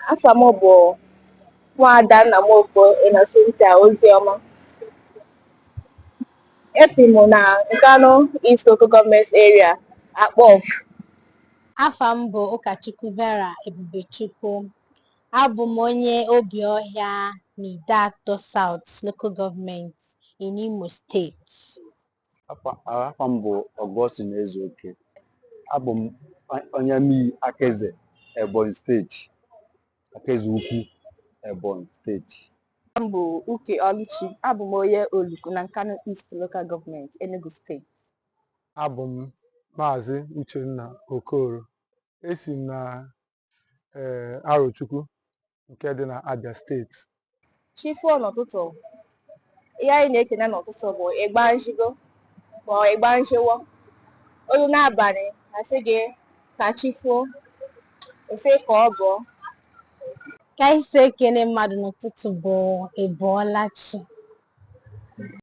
Afa m bụ Nwaada Nnamoko Innocentia Ozioma. Esi m na Nkanu East Local Government Area, Akpọfụ. Afa m bụ Ụkachukwu Vera Ebubechukwu. Abụ m onye Obiohia n'Ideato South Local Government in Imo State. Afa m bụ Augustine Ezeoke. Abụ m onye amii Akaeze Ebonyi steeti, Akaeze Ukwu Ebonyi steeti. M bụ Uke Ọlụchi. Abụ m onye Oluku na Nkanu East Local Government, Enugu steeti. Abụ m Maazị Uchenna Okoro. Esi m na ee Arochukwu nke dị na Abia steeti chi foo n'ụtụtụ ihe anyị na-ekene n'ụtụtụ bụ ịgba njigo ma ọ ịgba njiwo o luo n'abalị a sị gị ka chi foo ọ sị ka ọ bọọ ka anyị si ekene mmadụ n'ụtụtụ bụ ị bọọla chi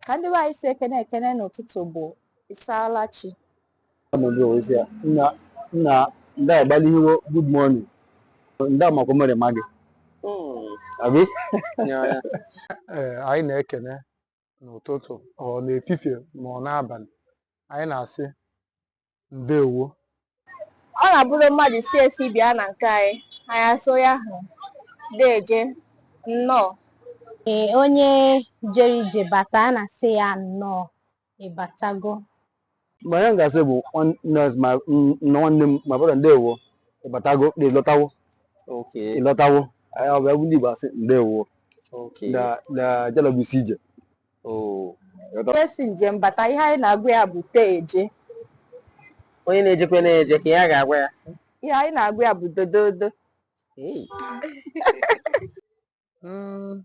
ka ndị be anyị si ekene ekene n'ụtụtụ bụ ị saala chi Nna nna ndị a gbali iwe good morning. Ndị amakwa mere ma gị. Abi? Ee, anyị na-ekene n'ụtụtụ ọ n'efifie ma ọ n'abalị anyị na-asị ndewo ọ na-abụrụ mmadụ si esi bịa na nke anyị anyị asị ya ahụ deje nnọọ Ee, onye jere ije bata a na-asị ya nnọọ ị batago ma anyị ga-asị bụ nwanne ma m- na nwanne m ma brọda ndewo ị batago na ị lọtawo okay ị lọtawo anyị ọ bụ ebe ndị Igbo asị ndewo okay na na jalogu isi ije oo onye si njem bata ihe anyị na-agwa ya bụ tee eje onye na-ejekwe na-eje ka ya ga-agwa ya ihe anyị na-agwa ya bụ dododo Hey. Mm,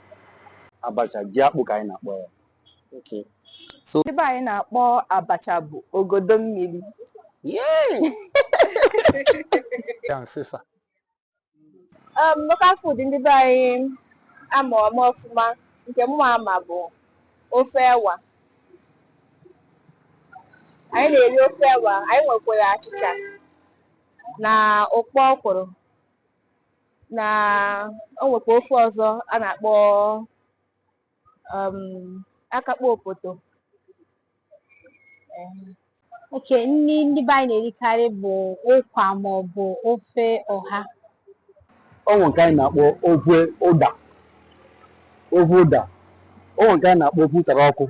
abacha ji akpụ ka anyị na-akpọ ya okay ndị be anyị na-akpọ abacha bụ ogodo mmiri ya nsịsa um, local food ndị be anyị ama ama ọfụma nke mụ ama bụ ofe ewa anyị na-eri ofe ewa anyị nwekwara achịcha na ụkpọ ọkwụrụ na o nwekwa ofe ọzọ a na-akpọ um, akakpọ opoto okay nri ndị be anyị na-erikarị bụ ụkwa ma ọ bụ ofe ọha o nwee nke anyị na-akpọ ofe ụda ofe ụda o nwee nke anyị na-akpọ ofe ụtara ọkụ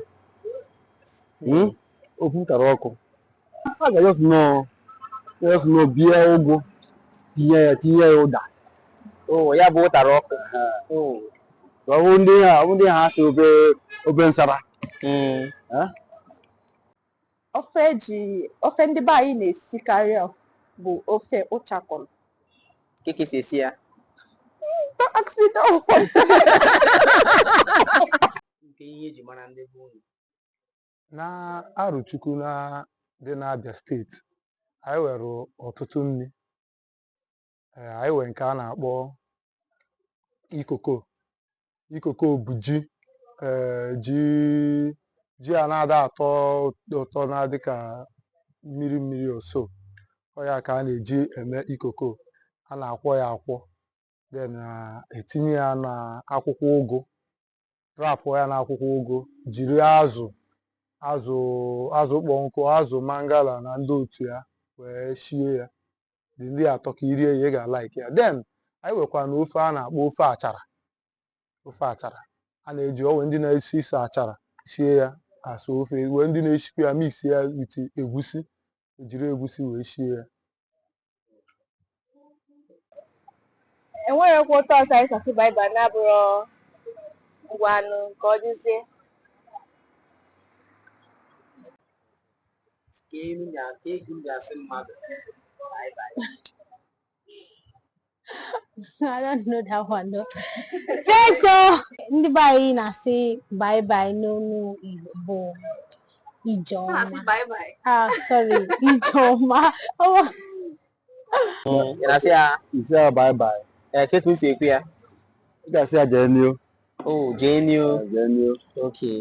Mm? ofe ụtara ọkụ a ga just nọ just nọ bie ụgụ tinye ya tinye ya ụda Oh, ya bụ ụtara ọkụ. Oh. ka ọ bụ ndị ha ọ bụ ndị ha sị ofe ofe nsara Mm. ofe eji ofe ndị be anyị na-esikarị ọ bụ ofe ụchakọrọ Kee ka esi esi ya? Don't ask me that one. Nke ihe eji mara ndị be unu. na Arọchukwu na dị n'Abịa steeti anyị nwere ọtụtụ nri ee anyị were nke a na-akpọ ikoko ikoko bụ ji ee ji ji a na-ada atọ ụtọ na-adị ka mmiri mmiri so ọ ya ka a na-eji eme ikoko a na-akwọ ya akwọ then etinye ya na akwụkwọ ụgụ wrapụọ ya n'akwụkwọ ụgụ jiri azụ azụ azụ kpọọ nkụ azụ mangala na ndị otu ya wee shie ya the thing atọka i rie ya ị ga-alike ya then anyị wekwa na ofe a na-akpọ ofe achara ofe achara a na-eji o we ndị na-esi isi achara sie ya as ofe wee ndị na-eshikwa ya mix ya with egusi ejiri egusi wee shie ya enweghịkwa otu ọzọ anyị si asị bye bye na-abụrọ ngwanụ ka ọ dịzie ka elu na ka egwu ga-asị mmadụ bye bye I don't know that one though. Biko ndị be anyị na-asị bye bye n'olu Igbo bụ Ijeọma. Ah, sorry, Ijeọma. Ị na-asị ya ị sị ya bye bye. Ee, eh, kee ka e si ekwu ya. Ị ga-asị ya jee n'ihu. Oh, jee n'ihu. Jee n'ihu. Okay.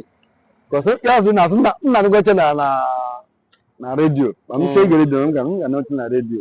Cause ya ọzọ na-asụ nna nna na na redio. Ma m chee mm. gere redio, m ga na-eche na redio.